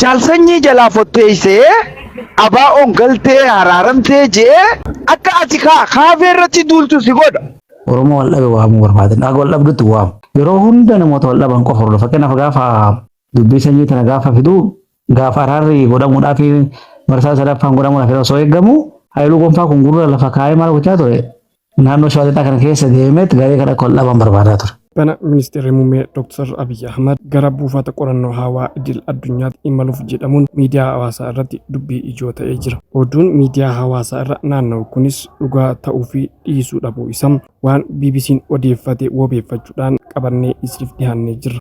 Jaal sanyii jalaa fotteessee ABOn galtee haraaramtee je'ee akka ati kaa kaafee irratti duultu si godha. Oromoo wal dhabe waamuu barbaadan akka wal dhabdutti waamu. Yeroo hunda namoota wal dhaban qofa hordofa. Fakkeenyaaf gaafa dubbii sanyii tana gaafa fidu gaafa araarri godhamuudhaaf marsaa sadaffaan godhamuudhaaf osoo eegamu Hayiluu Gonfaa kun gurra lafa kaa'ee maal gochaa ture? Naannoo Shawaa Lixaa kana keessa deemeet garee kana akka ol dhaban barbaadaa ture. Bana Ministeerri Muummee Dr. Abiy Ahmad gara buufata qorannoo hawaa idil addunyaatti imaluuf jedhamuun miidiyaa hawaasaa irratti dubbii ijoo ta'ee jira. Oduun miidiyaa hawaasaa irra naanna'u kunis dhugaa ta'uu fi dhiisuu dhabuu isa waan BBC'n odeeffate wabeeffachuudhaan qabannee isiniif dhiyaannee jirra.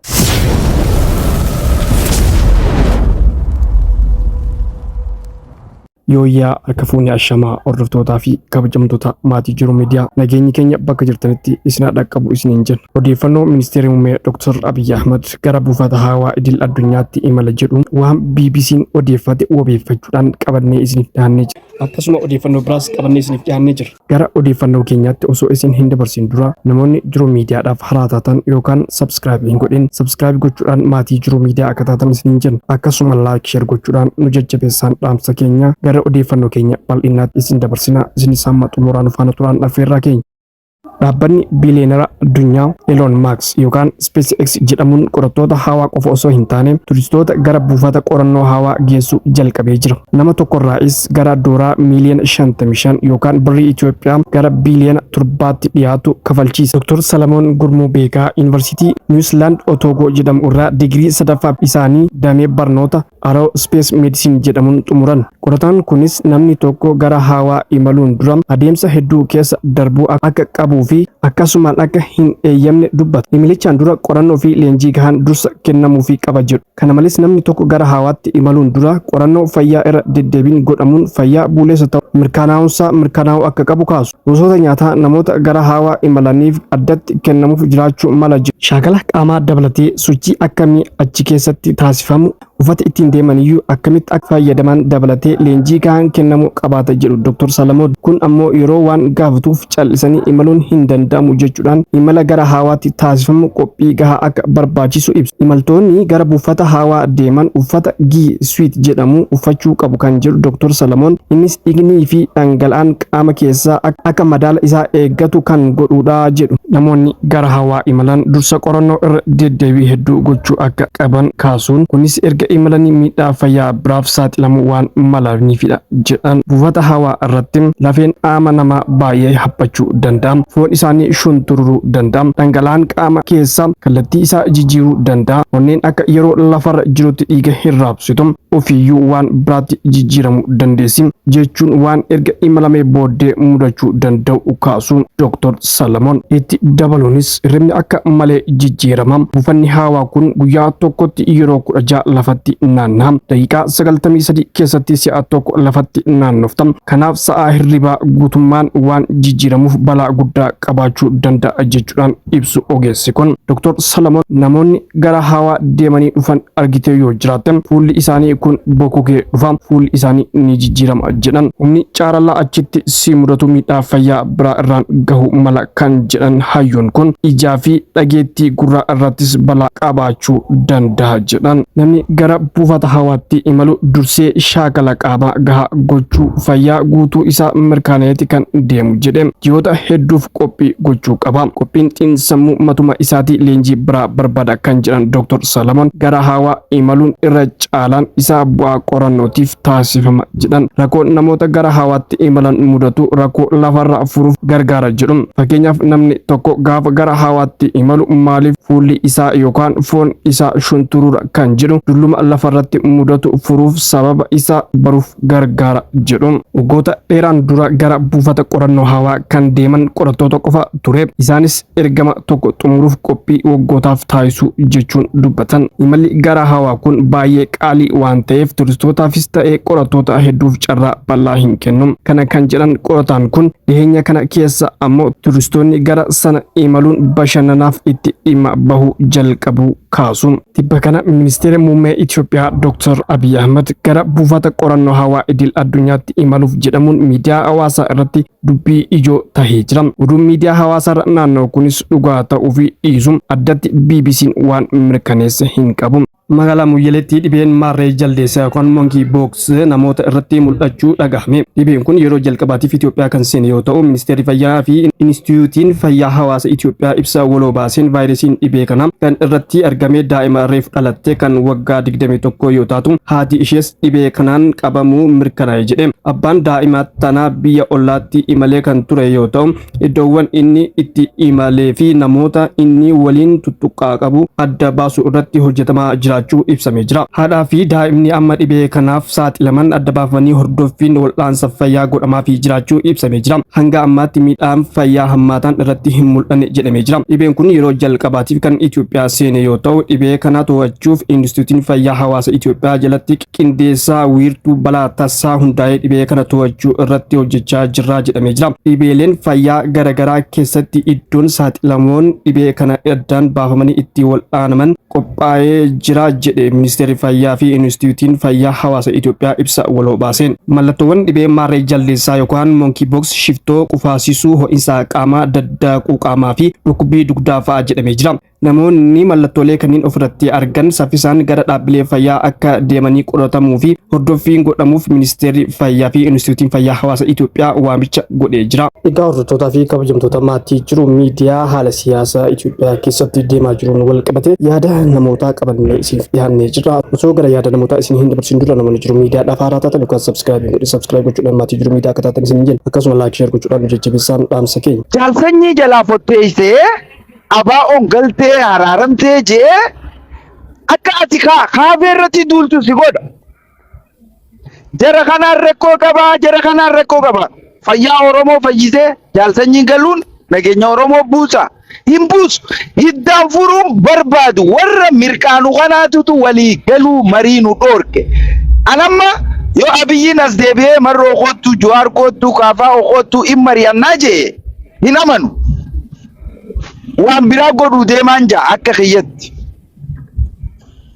Yooyyaa harka fuunee ashamaa hordoftootaa fi kabajamtoota maatii jiru miidiyaa nageenyi keenya bakka jirtanitti isinaa dhaqqabu isiniin jenna. Odeeffannoo ministeerri muummee Dr. Abiy Ahmad gara buufata hawaa idil addunyaatti imala jedhuun waan BBC'n odeeffate wabeeffachuudhaan qabannee isiniif dhiyaannee jira. Akkasuma odeeffannoo biraas qabannee isiniif dhiyaannee jira. Gara odeeffannoo keenyaatti osoo isin hin dabarsin dura namoonni jiruu miidiyaadhaaf haraa taatan yookaan subscribe hin godhin subscribe gochuudhaan maatii jiruu miidiyaa akka taatan isiniin jenna akkasuma like share gochuudhaan nu jajjabeessaan dhaamsa keenya gara odeeffannoo keenya bal'innaatti isin dabarsina isin isaan xumuraan faana turaan affeerraa keenya. Dhaabbanni biileenara addunyaa Elon Musk yookaan SpaceX jedhamuun qorattoota hawaa qofa osoo hin taane turistoota gara buufata qorannoo hawaa geessu jalqabee jira. Nama tokkorraayis gara dooraa miiliyoona 55 yookaan birrii Itoophiyaa gara biiliyoona torbaatti dhiyaatu kafalchiisa. Dr. Salamoon Gurmuu Beekaa Yuunivarsiitii Niwusilaand Otoogoo jedhamu irraa digirii sadaffaa isaanii damee barnoota Aerospace Medicine jedhamuun xumuran. Qorataan kunis namni tokko gara hawaa imaluun dura adeemsa hedduu keessa darbuu akka qabuu fi akkasumaan akka hin eeyyamne dubbata. Imilichaan dura qorannoo fi leenjii gahaan dursa kennamuufii qaba jedhu. Kana malees namni tokko gara hawaatti imaluun dura qorannoo fayyaa irra deddeebiin godhamuun fayyaa buuleessa ta'uu mirkaanaa'uunsaa mirkanaa'uu akka qabu kaasu. Gosoota nyaataa namoota gara haawaa imalaniif addatti kennamuuf jiraachuu mala. Shaakala qaamaa dabalatee sochii akkamii achi keessatti taasifamu, uffata ittiin deemaniyyuu akkamitti akka fayyadaman dabalatee leenjii gahaan kennamuu qabaata jedhu Doktar Salamoon. Kun ammoo yeroo waan gaafatuuf cal'isanii imaluun hin danda'amu jechuudhaan imala gara haawaatti taasifamu qophii gahaa akka barbaachisu ibsu. Imaltoonni gara buufata haawaa deeman uffata G-Suit jedhamu uffachuu qabu kan jedhu Doktar Salamoon, innis dhiignii fi dhangala'aan qaama keessaa akka madaala isaa eeggatu kan godhuudha jedhu. Namoonni gara hawaa imalan dursa qorannoo irra deddeebii hedduu gochuu akka qaban kaasuun kunis erga imalanii miidhaa fayyaa biraaf saaxilamuu waan malaniifidha jedhan. Buufata hawaa irratti lafeen qaama namaa baay'ee haphachuu danda'a. Foon isaanii shuntururuu danda'a. Dhangala'aan qaama keessaa kallattii isaa jijjiiruu danda'a. Onneen akka yeroo lafarra jirutti dhiiga hin raabsitu. ofiiyyuu waan biraatti jijjiiramuu dandeessi jechuun waan erga imalamee booddee mudachuu danda'u kaasu Dr. Salamoon. Itti dabaluunis hirribni akka malee jijjiirama. Buufanni haawaa kun guyyaa tokkotti yeroo 16 lafatti naanna'a. Daqiiqaa 93 keessatti si'a tokko lafatti naannofta. Kanaaf sa'aa hirribaa guutummaan waan jijjiiramuuf balaa guddaa qabaachuu danda'a jechuudhaan ibsu ogeessi kun Dr. Salamoon namoonni gara hawaa deemanii dhufan argitee yoo jiraatte fuulli isaanii kun bokokee dhufa fuulli isaanii ni jijjiirama jedhan humni caarallaa achitti si mudatu miidhaa fayyaa biraa irraan gahu mala kan jedhan hayyuun kun ijaa fi dhageettii gurraa irrattis balaa qabaachuu danda'a jedhan namni gara buufata hawaatti imalu dursee shaakala qaamaa gahaa gochuu fayyaa guutuu isaa mirkaneeti kan deemu jedhe ji'oota hedduuf qophii gochuu qaba. Qophiin xiinsammuu matuma isaatii leenjii biraa barbaada kan jedhan Dr. Salamoon gara haawaa imaluun irra caalaan isaa bu'aa qorannootiif taasifama jedhan. Rakkoo namoota gara haawaatti imalan mudatu rakkoo lafarraa furuuf gargaara jedhu. Fakkeenyaaf namni tokko gaafa gara haawaatti imalu maaliif fuulli isaa yookaan foon isaa shunturuura kan jedhu dulluma lafarratti mudatu furuuf sababa isaa baruuf gargaara jedhu. Waggoota dheeraan dura gara buufata qorannoo hawaa kan deeman qorattoota qofa ture. Isaanis ergama tokko xumuruuf qophii waggootaaf taasisuu jechuun dubbatan. Imalli gara hawaa kun baay'ee qaalii waan ta'eef turistootaafis ta'ee qorattoota hedduuf carraa bal'aa hin kennu. Kana kan jedhan qorataan kun dhiheenya kana keessa ammoo turistoonni gara sana imaluun bashannanaaf itti dhimma bahuu jalqabuu kaasu. Tibba kana ministeerri muummee Itoophiyaa Dr. Abiy Ahmad gara buufata qorannoo hawaa idil addunyaatti imaluuf jedhamuun miidiyaa hawaasaa irratti dubbii ijoo tahee jira. Oduun miidiyaa hawaasaa irra naanna'u kunis dhugaa ta'uu fi dhiisu addatti BBC'n waan mirkaneesse hin qabu. Magaalaa Muyyaleetti dhibeen maarree jaldeessaa yookaan monkey box namoota irratti mul'achuu dhagahame. Dhibeen kun yeroo jalqabaatiif Itoophiyaa kan seene yoo ta'u, Ministeerri Fayyaa fi Inistitiyuutiin Fayyaa Hawaasa Itoophiyaa ibsa waloo baaseen vaayirasiin dhibee kana kan irratti argame daa'ima reef dhalatte kan waggaa 21 yoo taatu haati ishees dhibee kanaan qabamuu mirkanaa'e jedhe. Abbaan daa'ima tanaa biyya ollaatti imalee kan ture yoo ta'u, Iddoowwan inni itti imalee fi namoota inni waliin tuttuqqaa qabu adda baasuu irratti hojjetamaa jiraachuu ibsamee jira. Haadhaa fi daa'imni amma dhibee kanaaf saaxilaman adda baafamanii hordoffiin wal'aansa fayyaa godhamaafii jiraachuu ibsamee jira. Hanga ammaatti miidhaan fayyaa hammaataan irratti hin mul'anne jedhamee jira. Dhibeen kun yeroo jalqabaatiif kan Itoophiyaa seene yoo ta'u, dhibee kana to'achuuf Inistitiyuutiin Fayyaa Hawaasa Itoophiyaa jalatti qindeessaa wiirtuu balaa tassaa hundaa'ee dhibee kana to'achuu irratti hojjechaa jirraa jedhamee jira. Dhibeeleen fayyaa garagaraa keessatti iddoon saaxilamoon dhibee kana addaan baafamanii itti wal'aanaman qophaa'ee jira jedhe Ministeerri Fayyaa fi Inistituutiin Fayyaa Hawaasa Itoophiyaa ibsa waloo baaseen. Mallattoowwan dhibee maarree jaldeessaa yookaan monkey box shiftoo qufaasisuu ho'insa qaamaa daddaaquu qaamaa fi dhukkubbii dugdaa fa'a jedhamee jira. Namoonni mallattoolee kanneen ofirratti argan saffisaan gara dhaabbilee fayyaa akka deemanii qoratamuu fi hordoffiin godhamuuf Ministeerri Fayyaa fi Inistituutiin Fayyaa Hawaasa Itoophiyaa waamicha godhee jira. Egaa hordoftootaa fi kabajamtoota maatii jiru miidiyaa haala siyaasa Itoophiyaa keessatti deemaa jiruun wal qabatee yaada namootaa qabannee isiniif dhiyaannee jirra. Osoo gara yaada namootaa isin hin dabarsin dura namoonni jiru miidiyaa dhaaf haaraa taatan yookaan sabskiraayib hin godhin sabskiraayib gochuudhaan maatii jiru miidiyaa akka taatan isin hin jenna. Akkasuma laayik sheer gochuudhaan nu jajjabeessaa dhaamsa keenya. Jaalsanyii jalaa fotteessee ABOn galtee haraaramtee jee akka ati kaa kaafee irratti duultu si godha. Jara kanaan rakkoo qabaa, jara kanaan rakkoo qabaa. Fayyaa Oromoo fayyisee jaalsanyiin galuun nageenya Oromoo buusa. Hin buusu. Hiddaan furuun barbaadu warra mirqaanu kanaatutu walii galuu marii nu dhoorke. Anamma yoo abiyyiin as deebi'ee marroo koottu, juwaar koottu, kaafaa koottu hin mari'annaa jee hin amanu. Waan biraa godhuu deemaan ja'a akka kiyyatti.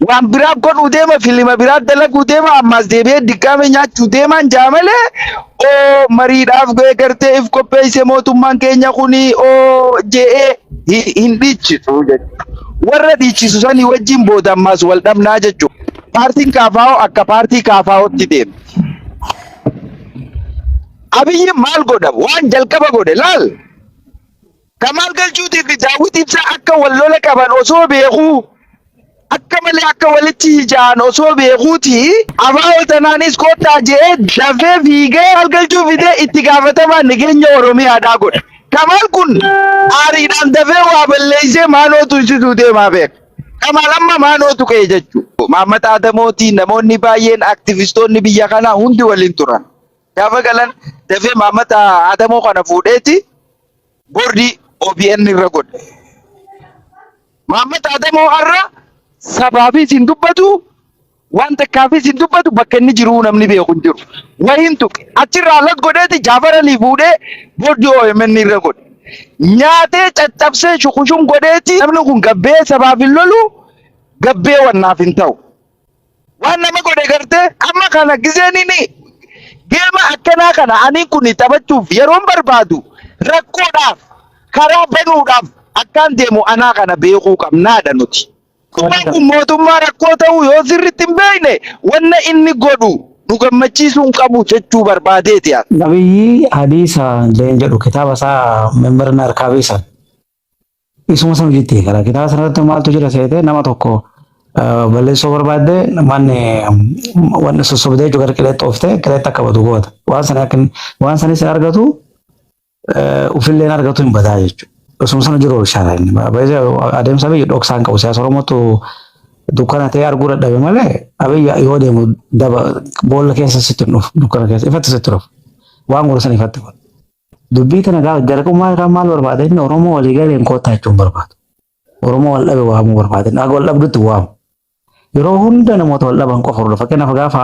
Waan biraa godhuu deema filima biraa dalaguu deema ammaas deebi'ee diggaame nyaachuu deemaan ja'a malee oo mariidhaaf ga'ee gartee if qopheesse mootummaan keenya kuni oo je'ee hi- hin dhiichisu jechuudha. Warra dhiichisu sanii wajjin booda ammaas wal dhabnaa jechuudha. Paartiin kaafaa'oo akka paartii kaafaa'ootti deema. Abiyyi maal godha? Waan jalqaba godhe laal. Kamaal Galchuutii fi Daawwit Ibsaa akka wal lola qaban osoo beekuu akka malee akka walitti hija'an osoo beekuuti abaa'oo tanaanis kottaa je'ee dafee fiigee Kamaal Galchuu fidee itti gaafatamaa nageenya Oromiyaadhaa godhe. Kamaal kun aariidhaan dafee waa balleessee maanoo tuysisuu deemaa beeka. Kamaal amma maanoo tuqee jechuudha. Maammat Aadamootiin namoonni baay'een aktivistoonni biyya kanaa hundi waliin turan. Gaafa galan dafee maammata Adamoo kana fuudheeti boordii OBN irra godhe. Maammata Adamoo har'a sabaafis hin dubbatu waan takkaafis hin dubbatu bakka inni jiru namni beeku hin jiru. Wahiin tuqe achirraa alas godheeti jaafaranii fuudhee boordii OMN irra godhe. Nyaatee caccabsee shukushum godheeti namni kun gabbee sabaaf hin lolu gabbee wannaaf hin ta'u. Waan nama godhe gartee amma kana gizeen inni geema akkanaa kana ani kun taphachuuf yeroon barbaadu rakkoodhaaf karaa banuudhaaf akkaan deemu anaa kana beekuu qabnaadha nuti. Mootummaan kun mootummaa rakkoo ta'uu yoo sirriitti hin beekne wanna inni godhu nu gammachiisuu hin qabu jechuu barbaadeeti. Nabiyyi hadiisa leen jedhu kitaaba isaa mimmirna harkaa beesan. Isuma sana hojjetti eegala. Kitaaba sana irratti maaltu jira seetee nama tokko eh, balleessuu barbaadde manni wanni sossobdee jechuudha gara qileetti ooftee qileetti akka badu goota. Waan sana akka inni- waan sana isin argatu eh, ofillee hin argatu hin badaa jechuudha. Isuma sana jiru oolchaadha inni. Baay'ee adeemsa biyya dhoksaa hin qabu. Siyaasa Oromootu dukkana ta'ee arguu dadhabe malee abiyya yoo deemu daba boolla keessa sitti hin dhufu dukkana keessa ifatti sitti dhufu. Waan godhu sana ifatti godhu. Dubbii tana gaa- gara dhumaa irraa maal barbaada inni Oromoo walii galeen koottaa jechuun barbaadu. Oromoo wal dhabe waamuu barbaada inni akka wal dhabdutti waamu. Yeroo hunda namoota wal dhaban qofa hordofa. Fakkeenyaaf gaafa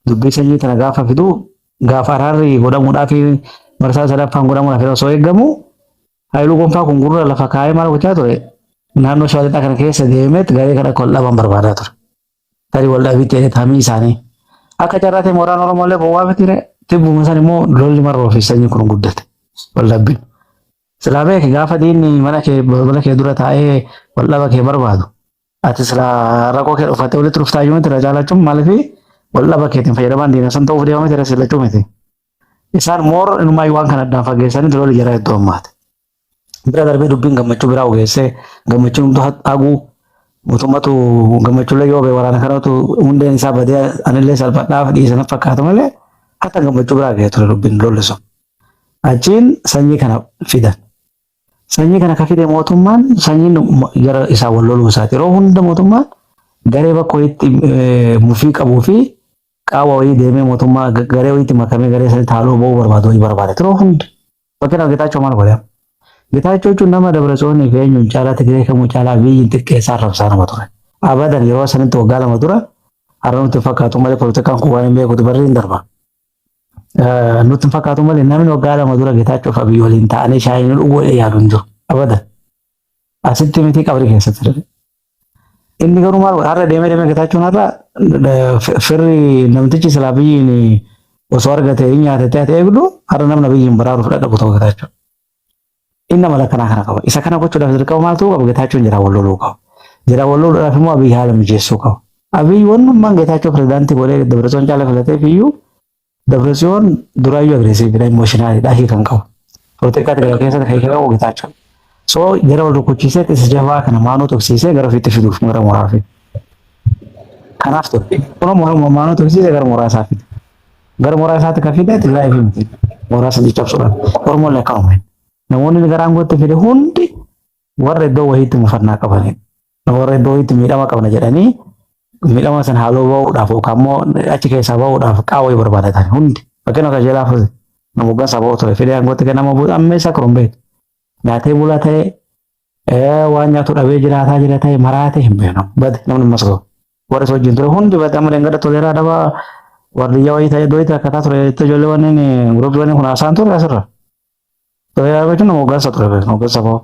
dubbii sanyii tana gaafa fidu gaafa araarri godhamuudhaaf marsaa sadaffaan godhamuudhaaf yeroo osoo eegamu Haayiluu Gonfaa kun gurra lafa kaa'ee maal gochaa ture naannoo shawaa lixaa kana keessa deemeet garee kana akka wal dhaban barbaadaa ture. tarii wal dhabii ta'e taamii isaanii. Akka carraa ta'e mooraan Oromoo illee bowwaa miti ree tibbuma san immoo lolli marroo fi sanyi kun guddate wal dhabbiin. Silaa beeki gaafa diinni mana kee balbala kee dura taa'ee wal dhaba kee barbaadu. Ati silaa rakkoo kee dhufattee walitti dhuftaa iyyuu miti irra caalachuun maaliif wal dhaba keetiin fayyadamaan diina san ta'uuf deema miti irra sillachuu miti. Isaan moor inumaayyuu waan kana addaan fageessanii lolli jara hedduu ammaate. bira darbee dubbiin gammachuu biraa ogeessee gammachuun hunduu haguu mootummatu gammachuullee yoo ba'e waraana kanatu hundeen isaa badee anillee salphadhaaf dhiisan fakkaata malee hatta gammachuu biraa ga'ee ture dubbiin lolli sun. Achiin sanyii kana fidan. Sanyii kana ka fide mootummaan sanyiin gara isaa wal loluu isaati. Yeroo hunda mootummaan garee bakka wayiitti mufii qabuu fi qaawwa wayii deemee mootummaa garee wayiitti makamee garee sanitti haaloo ba'uu barbaadu wayii barbaada. Yeroo hunda. Fakkeenyaaf Getaachoo maal godhe? Getaachoo jechuun nama Dabratsoonii fi eenyuun caalaa Tigiree kamuu caalaa Abiyyiin xiqqeessaa arrabsaa nama ture. Abadan yeroo sanitti waggaa lama dura har'a nutti hin fakkaatu malee poolitikaan kun waan hin beekutu barri hin darba. Eh, Nutti hin fakkaatu malee namni waggaa lama dura Getaachoo fi Abiyyi waliin ta'anii shaayii nu dhuguu yaadu hin jiru. Abadan. Asitti miti qabri keessatti darbe. Inni garuu maal godha? Har'a deemee deemee Getaachuun har'a eh, firri namtichi silaa biyyiin osoo argate hin nyaate ta'e eegdu har'a namna biyyiin baraaruuf dhaqu ta'u Getaachuun. Inni amala kanaa kana qaba. Isa kana gochuudhaaf dirqama maal ta'uu qaba? Getaachuun jedhaa wal loluu qaba. Jedhaa wal loluudhaaf immoo Abiy haala mijeessuu qaba. Abiy wannummaan Getaachoo pirezidaantii godhee Dabratsoon caalaa filateef iyyuu Dabretsiyoon duraayyuu agreesiividha, imooshinaaliidha, hiika hin qabu. Polotikaa Tigraay keessatti kan hiika qabu Getaachoo. So jara wal rukuchiisee isa jabaa kana maanoo tuksiisee gara ofiitti fiduuf gara mooraa fide. Kanaaf ture. Kunoo mooraa maanoo tuksiisee gara mooraa isaa fide. Gara mooraa isaatti kan fide Tigraay fi miti. Mooraa sana caccabsuudhaan. Oromoon lakkaa'ume. Namoonni gara aangootti fide hundi warra iddoo wayiitti mufannaa qabanidha. Nu warra iddoo itti miidhama qabna jedhanii miidhama sana haaloo ba'uudhaaf yookaan immoo achi keessaa ba'uudhaaf qaawwee barbaadatan hundi fakkeenya akka jeelaa fuute nama hoggan saba'oo ture fidee aangootti kennama buusa amma isaa kun beeku nyaatee bulaa ta'ee waan nyaatu dhabee jiraataa jira ta'ee maraatee hin beekamu bade namni mas ga'u warri isa wajjin ture hundi bade amma dengada toleeraa dhabaa wardiyyaa wayii ta'ee iddoo itti akkataa ture itti ijoollee wanneen guruubii wanneen kun haasaan ture asirra Xooyaa beektu nama hoggansa ture beektu hoggansa boo.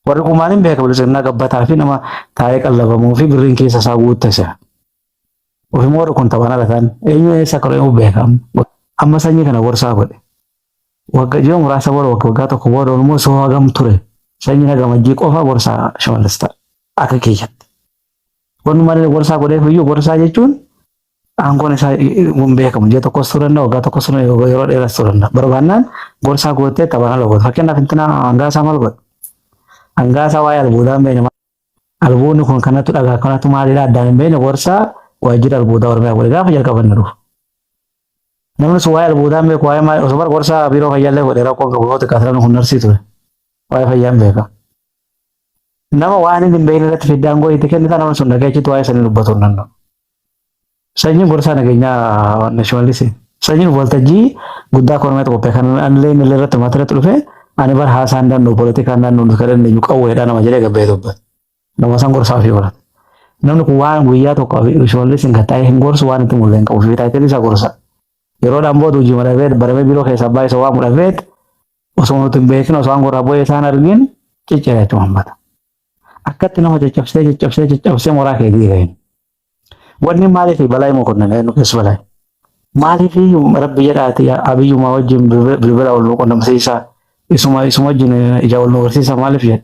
Warri kumaan hin beeka bilisummaa gabbataa fi nama taa'ee qallabamuu fi birriin keessa isaa guutte se'a. Ofimoo warri kun taphaan ala ta'an eenyu eessa akka dhufee beeka. Amma sanyii kana gorsaa godhe. Wagga ji'a muraasa booda wagga waggaa tokko booda immoo soo hagam ture. Sanyii nagamajjii qofa gorsaa shimallis ta'a. Akka kiyyatti. Wanni malee gorsaa godheef iyyuu gorsaa jechuun aangoon isaa hin beekamu. Ji'a tokkos turuu danda'a, waggaa tokkos turuu danda'a, yeroo dheeras turuu danda'a. Barbaannaan gorsaa gootee taphaan ala goota. Fakkeenyaaf intina hangaasaa maal godha? Hangaasaa waa'ee albuudaa hin beekne. Albuudni kun kanatu dhagaa kanatu maalidha addaan hin beekne gorsaa waajjira albuudaa Oromiyaa godhe gaafa jalqabanne dhufu. Namni sun waa'ee albuudaa hin beeku waa'ee maal osoo bara gorsaa biiroo fayyaa illee godhe rakkoo gogoota kaasiraan kun narsii ture. Waa'ee fayyaa hin beeka. nama waan inni hin beekne irratti fidde aangoo itti kennita nama sun dhagee achitti waa'ee sanii dubbatu hin danda'u. Sanyiin gorsaa nageenyaa waan shimallis sanyiin waltajjii guddaa kormeet qophee kan anillee inni illee irratti maatiratti dhufe ani bar haasaa hin danda'u poolitikaa hin danda'u nuti kan dandeenyu qawweedha nama jedhee gabbee dubbate. Nama san gorsaa ofii godhate. Namni kun waan guyyaa tokko shimallis hin gattaa'ee hin gorsu waan itti mullee hin qabu fi taayitiin isaa gorsa. Yeroodhaan booda hojii madhabee baramee biiroo keessaa baay'isa waan mudhabeet Osoo nuti hin beekin osoo aangoo irraa bu'ee isaan argin cicciree itti uummata. Akkatti nama caccabsee caccabsee caccabsee moraa kee diiga hin. Wanni maaliif balaa immoo kun nu keessa balaa. Maaliif rabbi jedhaati abiyyumaa wajjin bilbila ol nu qunnamsiisaa isuma isuma wajjin ija ol nu barsiisaa maaliif jedha.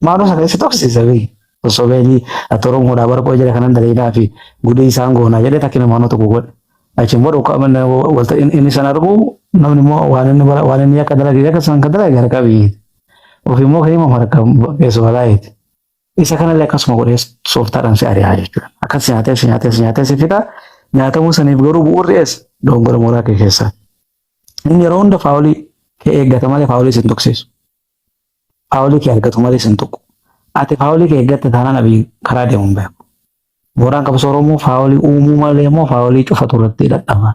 Maaloo sana isa toksiisa bee. Osoo beelii ati Oromoodhaa bara qo'ee jira kanan daleedaa fi gudee isaan goonaa jedhee takkina maanoo tokko godhe. Achiin booda ukaa manna walta inni sana argu namni immoo waan inni bara waan inni akka dalage akka san kan dalage gara qabii. Ofii immoo ka'ee immoo harka keessoo balaayeeti. Isa kanallee akkasuma godhee sooftaadhaan si ari'aa jechuudha. Akkas si nyaatee si nyaatee si nyaatee si fixa. Nyaatamuu saniif garuu bu'uurri ees doongora mooraa kee keessaa. Inni yeroo hunda faawolii kee eeggata malee faawolii si hin tuksiisu. faawulii kee argatu malee sin tuqu. Ati faawulii kee eeggatte taanaan Abiy karaa deemu hin beeku. Mooraan qabsoo Oromoo faawulii uumuu malee immoo faawulii cufatu irratti dadhaba.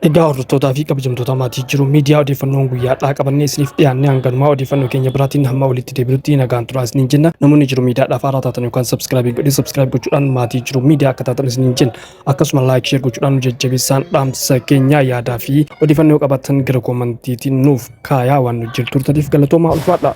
Egaa hordoftootaa fi kabajamtoota maatii jiru miidiyaa odeeffannoon guyyaa dhaa qabannee isiniif dhiyaannee hanganumaa odeeffannoo keenya biraatiin hamma walitti deebinutti nagaan turaa isiniin jenna namoonni jiru miidiyaadhaaf haaraa taatan yookaan sabskraabii godhee sabskraayib gochuudhaan maatii jiru miidiyaa akka taatan isiniin jenna. Akkasuma like share gochuudhaan nu jajjabeessaan dhaamsa keenya yaadaa fi odeeffannoo qabattan gara koomantiitiin nuuf kaayaa waan nu jirtu turtaniif galatoomaa ulfaadha.